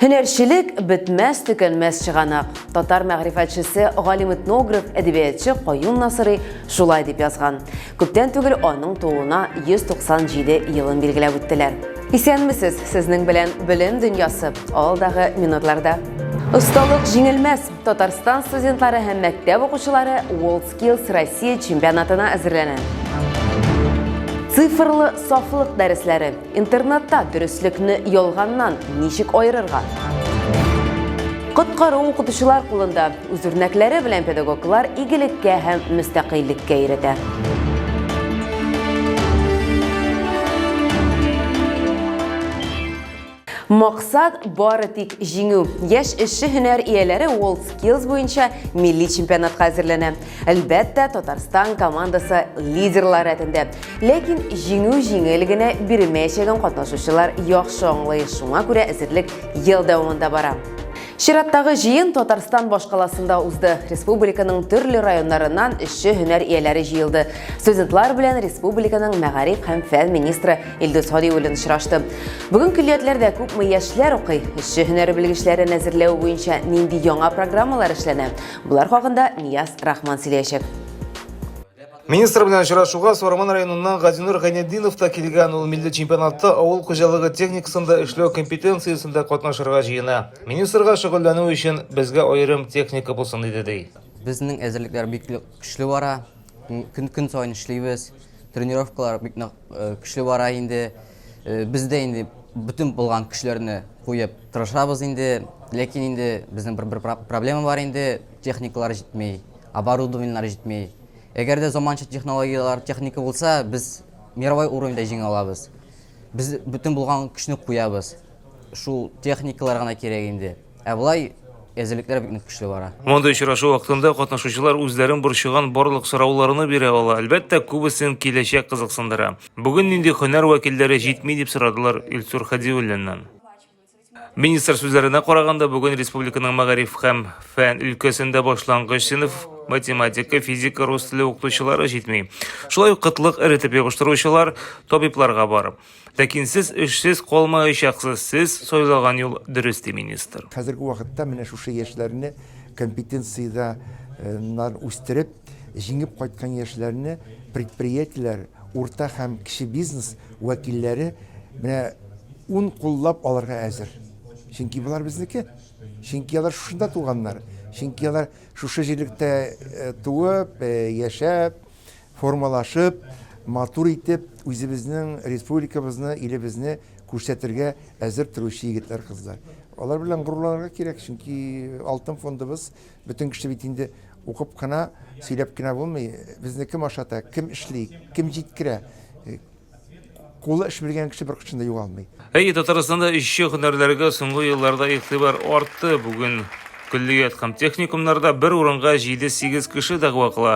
Һөнәрчелек бетмәс төкәнмәс чыганак. Татар мәгърифәтчесе, галим этнограф, әдәбиятчы Каюм Насырый шулай дип язган. Күптән түгел аның тууына 197 елын билгеләп үттеләр. Исәнмесез, сезнең белән белем дөньясы алдагы минутларда. Осталык җиңелмәс! Татарстан студентлары һәм мәктәп укучылары World Skills Россия чемпионатына әзерләнә. Цифрлы сафлык дәресләре. Интернетта дөреслекне ялганнан ничек аерырга? Коткару укытучылар кулында. Үз үрнәкләре белән педагоглар игелеккә һәм мөстәкыйльлеккә өйрәтә. Максат бары тик җиңү. Яшь эшче һөнәр ияләре World Skills буенча милли чемпионатка әзерләнә. Әлбәттә, Татарстан командасы лидерлар рәтендә. Ләкин җиңү җиңел генә бирмәячәген катнашучылар яхшы аңлый. Шуңа күрә әзерлек ел дәвамында бара. Чираттагы җыен Татарстан башкаласында узды. Республиканың төрле районнарыннан эшче һөнәр ияләре җыелды. Студентлар белән республиканың мәгариф һәм фән министры Илдус Һадиев белән очрашты. Бүген көллиятләрдә күпме яшьләр укый, эшче һөнәре белгечләрен әзерләү буенча нинди яңа программалар эшләнә? Болар хакында Нияз Рахман сөйләячәк. Министр белән очрашуга Сарман районыннан Газинур Гайнетдинов та килгән. Ул милли чемпионатта авыл хуҗалыгы техникасында эшләү компетенциясендә катнашырга җыена. Министрга шөгыльләнү өчен безгә аерым техника булсын иде, ди. Безнең әзерлекләр бик көчле бара. Көн-көн саен эшлибез. Тренировкалар бик нык көчле бара инде. Без дә инде бөтен булган көчләрне куеп тырышабыз инде. Ләкин инде безнең бер, бер проблема бар инде, техникалар җитми, оборудованиелар җитми. Әгәр дә заманча технологиялар, техника булса, без мировой уровеньда җиңә алабыз. Без бөтен булган көчне куябыз. Шул техникалар гына кирәк инде. Ә болай әзерлекләр бик нык көчле бара. Мондый очрашу вакытында катнашучылар үзләрен борчыган барлык сорауларны бирә ала. Әлбәттә, күбесен киләчәк кызыксындыра. Бүген нинди һөнәр вәкилләре җитми, дип сорадылар Илсур Хадиуллиннан. Министр сүзләренә караганда, бүген республиканың мәгариф һәм фән өлкәсендә башлангыч сыйныф математика, физика, рус теле укытучылары җитми. Шулай ук кытлык эретеп ябыштыручылар, табибларга бар. Ләкин сез эшсез калмаячаксыз, сез сайлаган юл дөрес, ди министр. Хәзерге вакытта менә шушы яшьләрне компетенциядә нар үстереп, җиңеп кайткан яшьләрне предприятиеләр, урта һәм кече бизнес вәкилләре менә ун куллап алырга әзер. Чөнки болар безнеке. Чөнки алар шушында туганнар. Чөнки алар шушы җирлектә туып, яшәп, Формалашып, матур итеп, үзебезнең республикабызны, илебезне күрсәтергә әзер торучы егетләр, кызлар. Алар белән горурланырга кирәк, чөнки алтын фондыбыз, бөтен кеше бит инде укып кына, сөйләп кенә булмый. Безне кем ашата, кем эшли, кем җиткерә? Кулы эш белгән кеше беркайчан да югалмый. Әйе, Татарстанда эшче һөнәрләргә соңгы елларда игътибар артты. Бүген көллият һәм техникумнарда бер урынга 7-8 кеше дәгъва кыла.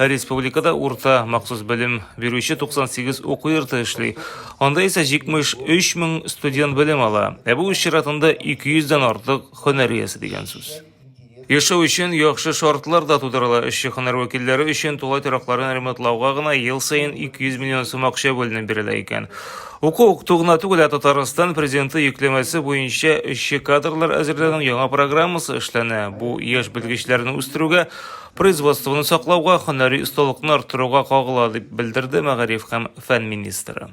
Ә республикада урта махсус белем бирүче 98 уку йорты эшли. Анда исә 73 мең студент белем ала. Ә бу үз чиратында 200 дән артык һөнәр иясе дигән сүз. Яшәү өчен яхшы шартлар да тудырыла. Эшче һөнәр вәкилләре өчен тулай торякларын ремонтлауга гына ел саен 200 миллион сум акча бүленеп бирелә икән. Уку-укыту гына түгел, ә Татарстан Президенты йөкләмәсе буенча эшче кадрлар әзерләүнең яңа программасы эшләнә. Бу яшь белгечләрне үстерүгә, производствоны саклауга, һөнәри осталыкны арттыруга кагыла, дип белдерде мәгариф һәм фән министры.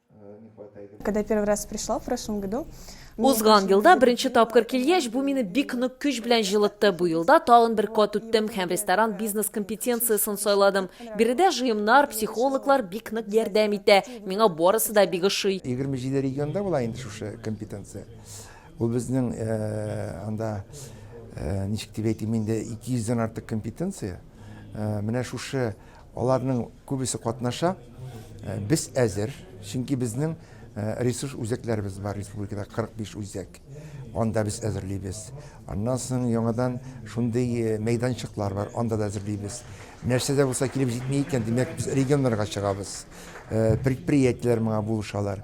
Когда первый раз пришла в прошлом году, Узган елда беренче тапкыр килгәч, бу мине бик нык көч белән җылытты. Бу елда тагын бер кат үттем һәм ресторан бизнес компетенциясен сайладым. Биредә җыемнар, психологлар бик нык ярдәм итә. Миңа барысы да бик ошый. 27 регионда була инде шушы компетенция. Бу безнең анда, ничек дип әйтим инде, 200 дән артык компетенция. Менә шушы Аларның күбесе катнаша. Без әзер, чөнки безнең ресурс үзәкләребез бар республикада 45 үзәк. Анда без әзерлибез. Аннан соң яңадан шундый мәйданчыклар бар, анда да әзерлибез. Нәрсә дә булса килеп җитми икән, димәк, без регионнарга чыгабыз. Предприятиеләр моңа булышалар.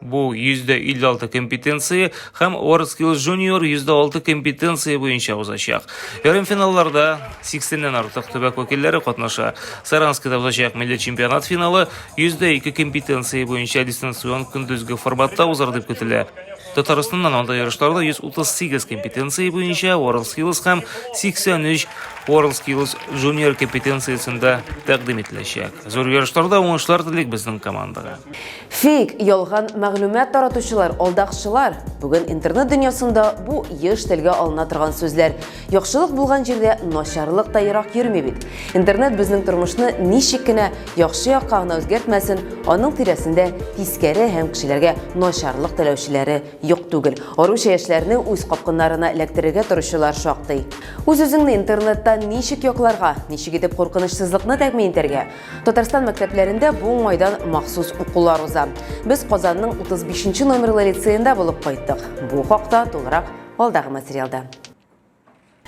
Бу 156 компетенция һәм WorldSkills Junior 106 компетенция буенча узачак. Ярымфиналларда 80-нән артык төбәк вәкилләре катнаша. Саранскида узачак милли чемпионат финалы 102 компетенция буенча дистанцион көндезге форматта узар дип көтелә. Татарстаннан анда ярышларда 138 компетенция буенча WorldSkills һәм 83 WorldSkills Junior компетенциясендә тәкъдим ителәчәк. Зур ярышларда уңышлар телик безнең командага. Фейк, ялган мәгълүмат таратучылар, алдакчылар! Бүген интернет дөньясында бу еш телгә алына торган сүзләр. Яхшылык булган җирдә начарлык та ерак йөрми бит. Интернет безнең тормышны ничек кенә яхшы якка гына үзгәртмәсен, аның тирәсендә тискәре һәм кешеләргә начарлык теләүчеләре юк түгел. Аруча яшьләрне үз капкыннарына эләктерергә торучылар шактый. Үз-үзеңне интернеттан ничек якларга, ничек итеп куркынычсызлыкны тәэмин итәргә? Татарстан мәктәпләрендә бу уңайдан махсус укулар уза. Без Казанның 35 нче номерлы лицеенда булып кайттык. Бу хакта тулырак алдагы материалда.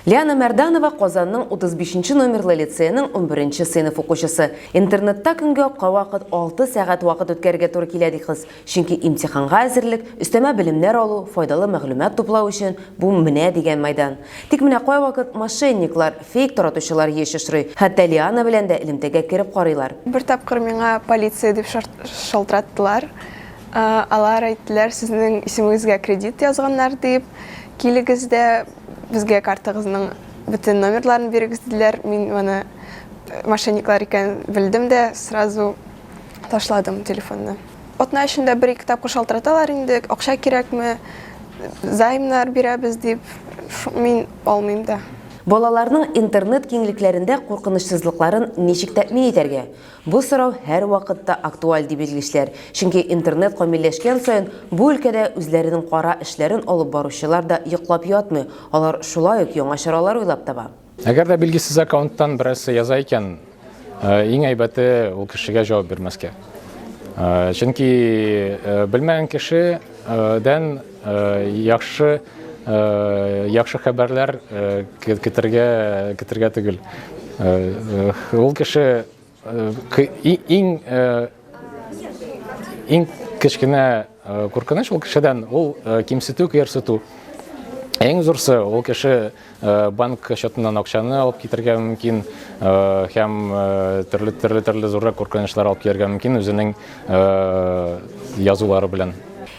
Лиана Мәрданова Казанның 35 нче номерлы лицееның 11 нче сыйныф укучысы. Интернетта көнгә кавакыт 6 сәгать вакыт үткәрергә туры килә, ди кыз. Чөнки имтиханга әзерлек, өстәмә белемнәр алу, файдалы мәгълүмат туплау өчен бу менә дигән майдан. Тик менә кайвакыт мошенниклар, фейк таратучылар еш очрый. Хәтта Лиана белән дә элемтәгә кереп карыйлар. Бер тапкыр миңа полиция дип шалтыраттылар. Алар әйттеләр, сезнең исемегезгә кредит язганнар, дип, килегез дә безгә картагызның бөтен номерларын бирегез, диделәр. Мин моны мошенниклар икәнен белдем дә, сразу ташладым телефонны. Атна эчендә бер-ике тапкыр шалтыраталар инде, акча кирәкме, займнар бирәбез дип, мин алмыйм да. Балаларның интернет киңлекләрендә куркынычсызлыкларын ничек тәэмин итәргә? Бу сорау һәрвакытта актуаль, ди белгечләр, чөнки интернет камилләшкән саен, бу өлкәдә үзләренең кара эшләрен алып баручылар да йоклап ятмый, алар шулай ук яңа чаралар уйлап таба. Әгәр дә билгесез аккаунттан берәрсе яза икән, иң әйбәте ул кешегә җавап бирмәскә. Чөнки белмәгән кешедән яхшы яхшы хәбәрләр көтергә көтергә түгел. Ул кеше Иң иң кечкенә куркыныч ул кешедән ул кимсетү, кыерсыту. Иң зурсы ул кеше банк счетыннан акчаны алып китергә мөмкин һәм төрле төрле төрле зуррак куркынычлар алып кияргә мөмкин үзенең язулары белән.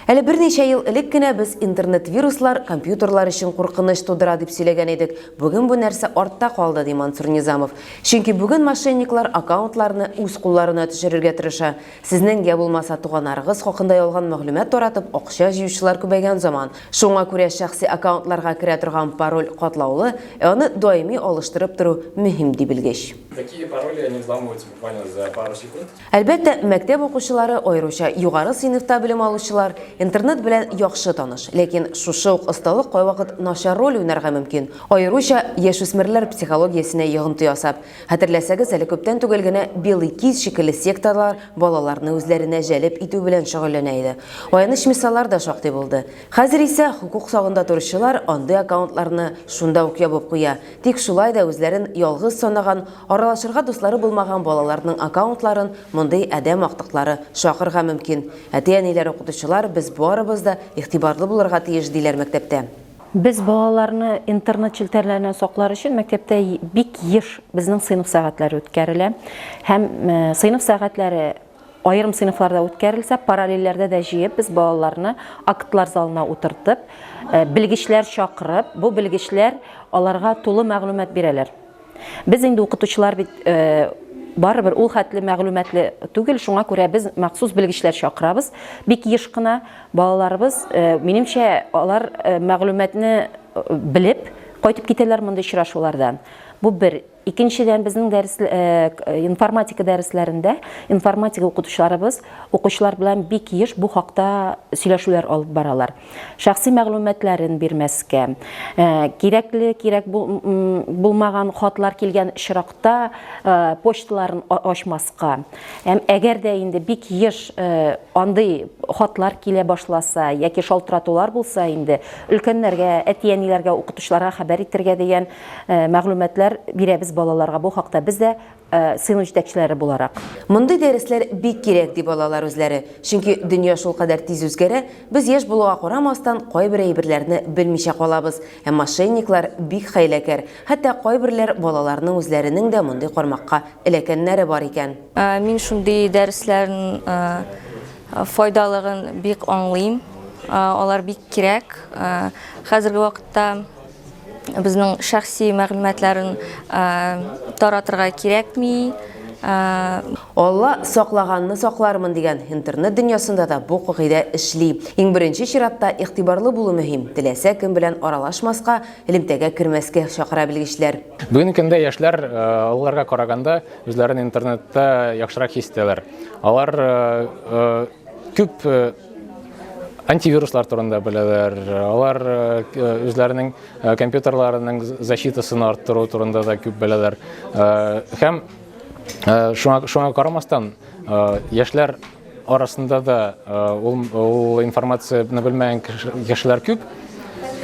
Әле берничә ел элек кенә без интернет-вируслар компьютерлар өчен куркыныч тудыра дип сөйләгән идек, бүген бу нәрсә артта калды, ди Мансур Низамов. Чөнки бүген мошенниклар аккаунтларны үз кулларына төшерергә тырыша. Сезнең йә булмаса туганнарыгыз хакында ялган мәгълүмат таратып акча җыючылар күбәйгән заман. Шуңа күрә шәхси аккаунтларга керә торган пароль катлаулы, ә аны даими алыштырып тору мөһим, ди белгеч. Такие пароли они взламываются буквально за пару секунд. Әлбәттә, мәктәп укучылары, аеруча югары сыйныфта белем алучылар, интернет белән яхшы таныш. Ләкин шушы ук осталык кайвакыт начар роль уйнарга мөмкин, аеруча яшүсмерләр психологиясенә йогынты ясап. Хәтерләсәгез, әле күптән түгел генә Белый киз шикелле секталар балаларны үзләренә җәлеп итү белән шөгыльләнә иде. Аяныч мисаллар да шактый булды. Хәзер исә хокук сагында торучылар андый аккаунтларны шунда ук ябып куя. Тик шулай да үзләрен ялгыз санаган, аралашырга дуслары булмаган балаларның аккаунтларын мондый адәм актыклары шакырга мөмкин. Әти-әниләр, укытучылар, без барыбыз да игътибарлы булырга тиеш, диләр мәктәптә. Без балаларны интернет челтәрләреннән саклар өчен мәктәптә бик еш безнең сыйныф сәгатьләре үткәрелә һәм сыйныф сәгатьләре, Аерым сыйныфларда үткәрелсә, параллельләрдә дә җыеп без балаларны актлар залына утыртып, белгечләр чакырып, бу белгечләр аларга тулы мәгълүмат бирәләр. Без инде укытучылар бит барыбер ул хәтле мәгълүматлы түгел, шуңа күрә без махсус белгечләр чакырабыз. Бик еш кына балаларыбыз, минемчә, алар мәгълүматны белеп кайтып китәләр мондый очрашулардан. Бу бер. Икенчедән, безнең дәрес, информатика дәресләрендә информатика укытучыларыбыз укучылар белән бик еш бу хакта сөйләшүләр алып баралар. Шәхси мәгълүматларын бирмәскә, кирәкле, кирәк булмаган хатлар килгән очракта почталарын ачмаска. Һәм әгәр дә инде бик еш андый хатлар килә башласа яки шалтыратулар булса инде, өлкәннәргә, әти-әниләргә, укытучыларга хәбәр итәргә дигән Мәгълүматлар бирәбез балаларга бу хакта без дә сыйныф җитәкчеләре буларак. Мондый дәресләр бик кирәк, ди балалар үзләре. Чөнки дөнья шулкадәр тиз үзгәрә, без яшь булуга карамастан, кайбер әйберләрне белмичә калабыз. Ә мошенниклар бик хәйләкәр. Хәтта кайберләр балаларның үзләренең дә мондый кармакка эләкәннәре бар икән. Мин шундый дәресләрнең файдалыгын бик аңлыйм. Алар бик кирәк. Хәзерге вакытта Безнең шәхси мәгълүматларын таратырга кирәкми. Алла саклаганны саклармын дигән интернет дөньясында да бу кагыйдә эшли. Иң беренче чиратта игътибарлы булу мөһим, теләсә кем белән аралашмаска, элемтәгә кермәскә чакыра белгечләр. Бүгенге көндә яшьләр олыларга караганда үзләрен интернетта яхшырак хис итәләр. Алар күп антивируслар турында беләләр, алар үзләренең компьютерларының защитасын арттыру турында да күп беләләр. Һәм шуңа, шуңа карамастан, яшьләр арасында да ул, ул информацияне белмәгән кешеләр күп.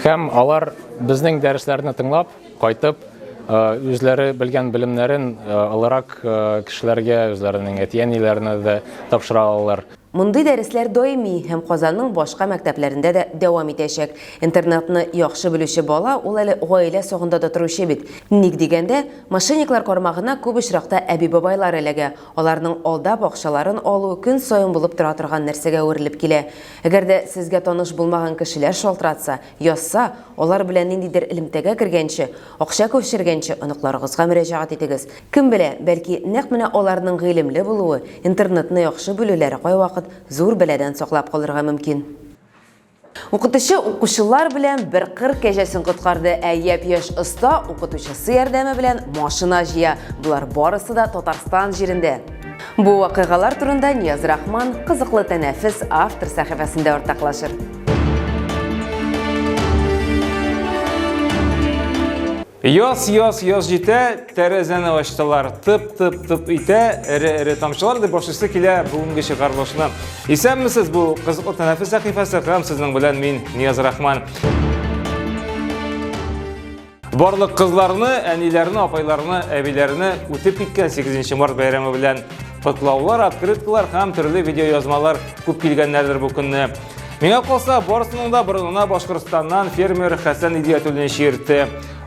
Һәм алар безнең дәресләрне тыңлап, кайтып, үзләре белгән белемнәрен олырак кешеләргә, үзләренең әти-әниләренә дә тапшыра алалар. Мондый дәресләр даими һәм Казанның башка мәктәпләрендә дә дәвам итәчәк. Интернатны яхшы белүче бала ул әле гаилә сагында да торучы бит. Ник дигәндә, мошенниклар кармагына күп очракта әби-бабайлар эләгә, аларның алдап акчаларын алу көн саен булып тора торган нәрсәгә әверелеп килә. Әгәр дә сезгә таныш булмаган кешеләр шалтыратса, язса, алар белән ниндидер элемтәгә кергәнче, акча күчергәнче оныкларыгызга мөрәҗәгать итегез. Кем белә, бәлки, нәкъ менә аларның гыйлемле булуы, интернетны яхшы белүләре кайвакыт зур бәладән саклап калырга мөмкин. Укытучы укучылар белән бер кыр кәҗәсен коткарды, ә япь-яшь оста укытучысы ярдәме белән машина җыя. Болар барысы да Татарстан җирендә. Бу вакыйгалар турында Нияз Рахман Кызыклы тәнәфес автор сәхифәсендә уртаклашыр. Яз, яз, яз җитә, тәрәзәне ачтылар, тып-тып-тып итә, эре-эре тамчылар дип башлыйсы килә бүгенге чыгарылышны. Исәнмесез, бу кызыклы тәнәфес сәхифәсе һәм сезнең белән мин Нияз Рахман. Барлык кызларны, әниләрне, апайларны, әбиләрне үтеп киткән 8 март бәйрәме белән котлаулар, открыткалар һәм төрле видеоязмалар күп килгәннәрдер бу көнне. Миңа калса, барысының да борынына Башкортстаннан фермер Хәсән Идиятуллин чиертте.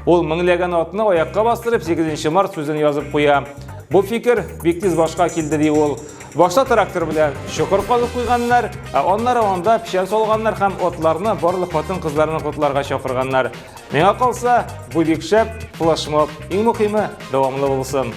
Ул меңләгән атны аякка бастырып 8 март сүзен язып куя. Бу фикер бик тиз башка килде ди ул. Башта трактор белән чокыр казып куйганнар, ә аннары анда печән салганнар һәм атларны барлык хатын-кызларны котларга чакырганнар. Миңа калса, бу бик шәп, флешмоб. Иң мөхиме, дәвамлы булсын.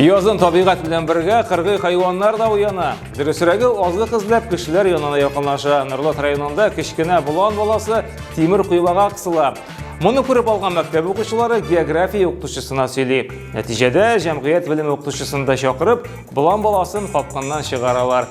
Язын табигать белән бергә кыргый хайваннар да уяна. Дөресрәге азык эзләп кешеләр янына якынлаша. Норлат районында кечкенә болан баласы тимер куйбага кысыла. Моны күреп алган мәктәп укучылары география укытучысына сөйли. Нәтиҗәдә җәмгыять белеме укытучысын да чакырып, болан баласын капканнан чыгаралар.